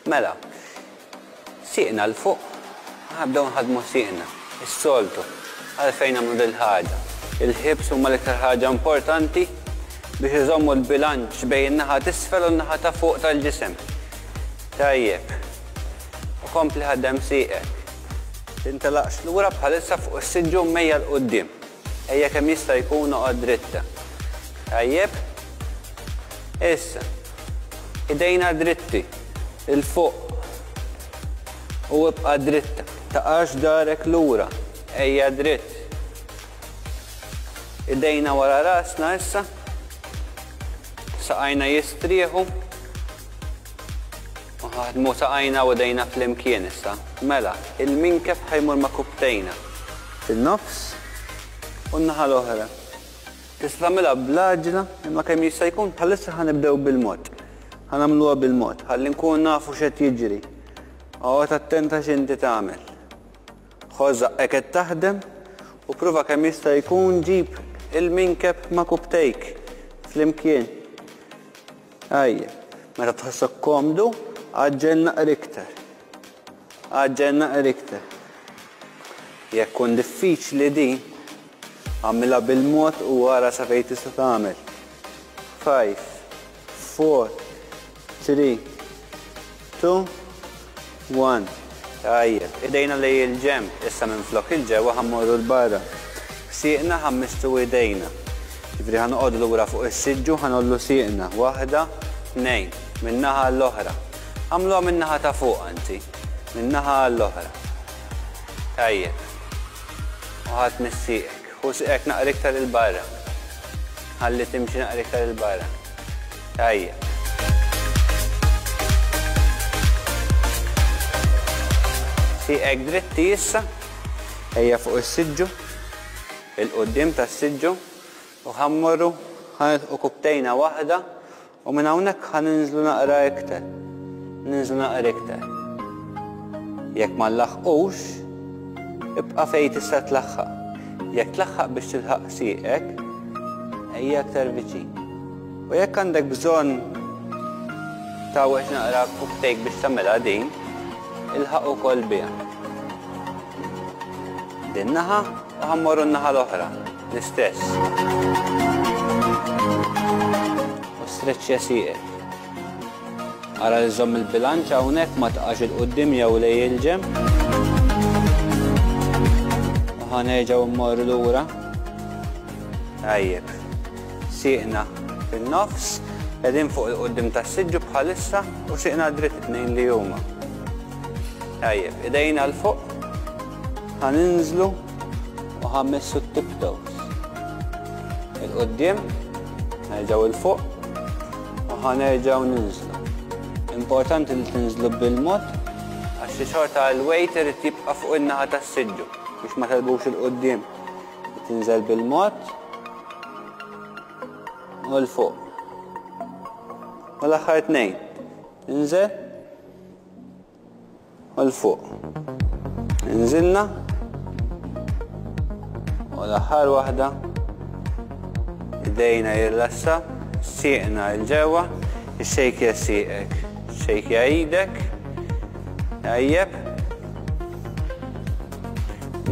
Mela, sieqna 'l fuq, aħna bdew nħaddmu sieqna, is-soltu, għalfejn nagħmlu dil-ħaġa? Il-ħiebs huma l-iktar ħaġa importanti biex iżommu l-bilanċ bejn in-naħa t'isfel u n-naħa ta' fuq tal-ġisem. Tajjeb. U kompli ħaddem sieqek. Tintelaqx lura bħalissa fuq is-siġġu mejja 'l quddiem. Ejja kemm jista' jkun oqgħod dritt. Tajjeb. Issa. Idejna dritti. 'l fuq. U ibqa' dritt. Taqax darek lura. Ejja dritt. Idejna wara rasna issa. Saqajna jistrieħu. Ħadmu saqajna u idejna flimkien issa. Mela, il-minkef ħa jmur ma' kupptejna. Fin-nofs u n-naħa l-oħra. Tista' tagħmilha bl-għaġla, imma kemm jista' jkun bħalissa ħa nibdew bil-mod. Ħa nagħmluha bil-mod, ħalli nkunu nafu x'qed jiġri. Oqgħod attent għax inti tagħmel. Ħoss żaqqek qed taħdem u pprova kemm jista' jkun ġib il-minkef ma' kupptejk flimkien. Ejja, meta tħossok komdu, għaġġel naqra iktar. Għaġġel naqra iktar. Jekk tkun diffiċli din, għamilha bil-mod u ara sa fejn tista' tagħmel. 5, 4, 3, Two, one. Tajjeb, idejna lejn il-ġenb, issa minflok il-ġewwa ħa mmorru 'l barra. Sieqna ħa mmissru idejna. Jiġifieri ħa noqogħdu lura fuq is-siġġu u ħa ngħollu sieqna. Waħda, tnejn. Min-naħa għall-oħra. Agħmluha min-naħa ta' fuq, anzi. Min-naħa għall-oħra. Tajjeb. U ħa tmiss sieqek. U siqek naqra iktar 'il barra. Ħalli timxi naqra iktar 'il barra. Tajjeb. Siqek dritti issa. Ejja fuq is-siġġu. 'il quddiem tas-siġġu. U ħa mmorru, ħa nilħqu kubtejna waħda U minn hawnhekk ħa ninżlu naqra ikter. Ninżlu naqra iktar. Jekk ma nlaħħqux, ibqa' fejn tista' tlaħħaq. Jekk tlaħħaq biex tilħaq sieqek, ejja aktar viċin. U jekk għandek bżonn tawweġ naqra kuktejk biex tagħmilha din, ilħaq ukoll biha. Din naħa u ħammorru n-naħa l-oħra. l-istess. U streċċja sieqek. Ara li żomm il-bilanċ hawnhekk ma tqax il quddiem jew lej il-ġem. Ħa nerġgħu mmorru lura. Tajjeb. Sieqna fin-nofs, qegħdin fuq il quddiem tas-siġġu bħalissa u sieqna dritt tnejn li huma. Tajjeb, idejna l fuq ħaninżlu u ħammessu t-tiptoes. Il-quddiem, nerġgħu il fuq u ħanerġgħu ninżlu. Importanti li tinżlu bil-mod għax xi xorta l-weight irid jibqa' fuq in-naħa tas-siġġu biex ma telbux il-quddiem. Tinżel bil-mod u l-fuq. U l-aħħar tnejn. Inżel Għal fuq. Inżilna. U l-aħħar waħda. Idejna jirlassa. Sieqna il-ġewwa. Ixxejkja sieqek. Xejkja idek. Tajjeb.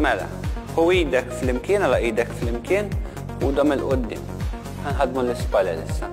Mela, hu idek flimkien, għala idek flimkien u dam il-qoddim. Għanħadmu l-ispalel issa.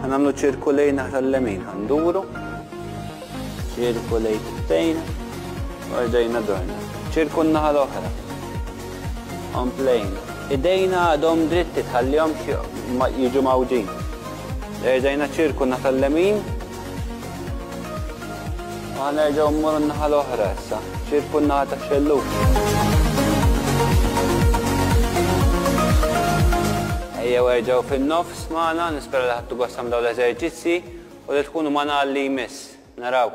Ħa nagħmlu ċirku lejn naħra l-lemin, ħa nduru. Ċirku lejn tibtejn, ordejna dorna. Ċirku n-naħa l-oħra. Omplejna. Idejna għadhom dritti tħallihom jiġu mawġin. Erġajna ċirku naħa l-lemin. Ħa nerġgħu mmur n-naħa l-oħra issa. Ċirku n-naħa ta' xelluk. jew erġgħu fin-nofs magħna, nispera li ħadtu gost tagħmlu dawn l-eżerċizzji u li tkunu magħna għal li jmiss. Narawk.